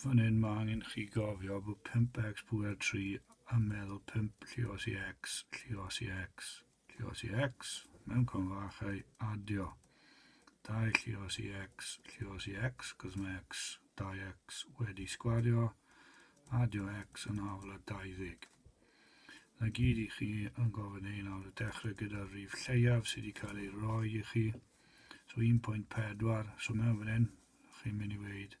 Fan hyn mae angen i chi gofio bod 5x pŵer 3 a meddwl 5 llios i x, llios i x, llios i x, mewn confachau, adio. 2 llios i x, llios i x, cos mae x, 2x wedi sgwario, adio x yn afl a 20. Na gyd i chi yn gofyn ein awr y dechrau gyda'r rif lleiaf sydd wedi cael ei roi i chi. So 1.4, so mewn fan hyn, chi'n mynd i weid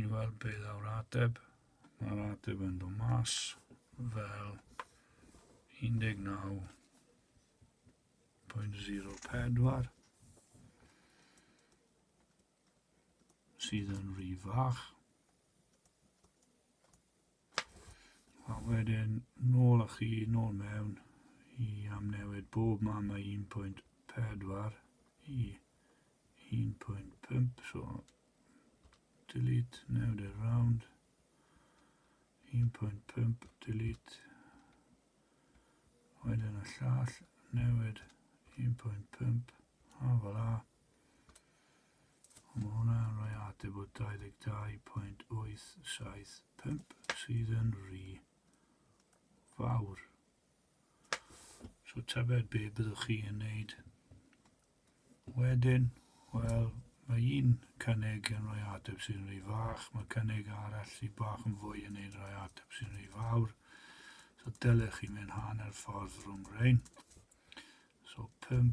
i weld beth awr ateb. Mae'r ateb yn dod mas fel 19.04 sydd yn rhy fach. A wedyn, nôl â chi, nôl mewn i amnewid bob man o 1.4 i 1.5, so delete, newid e round, 1.5, delete, wedyn y llall, newid 1.5, a fel a, Ond mae hwnna yn rhoi ateb o 22.875 sydd yn rhy fawr. So tybed be byddwch chi yn neud wedyn? Wel, mae un cynnig yn rhoi ateb sy'n rhy fach, mae cynnig arall sy'n bach yn fwy yn neud rhoi ateb sy'n rhy fawr. So dylech chi mynd hanner ffordd rhwng rhain. So 5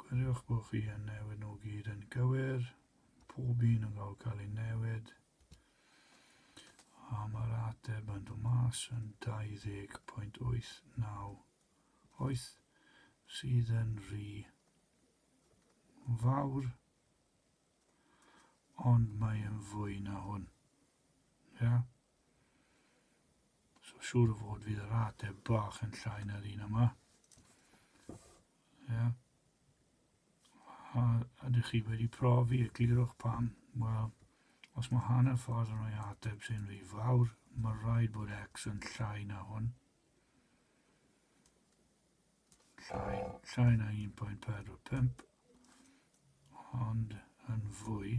Gwiriwch bod chi yn newid nhw gyd yn gywir, pob un yn cael cael ei newid. A mae'r ateb yn dod mas yn 20.89 oeth sydd yn rhy fawr, ond mae yn fwy na hwn. Ia? So siŵr o fod fydd yr ateb bach yn llai na'r un yma. Ie. Yeah. A ydych chi wedi profi y glirwch pan? Wel, os mae hanner ffordd yn rhoi ateb sy'n rhy fawr, mae rhaid bod x yn llai na hwn. Llai, llai na 1.45, ond yn fwy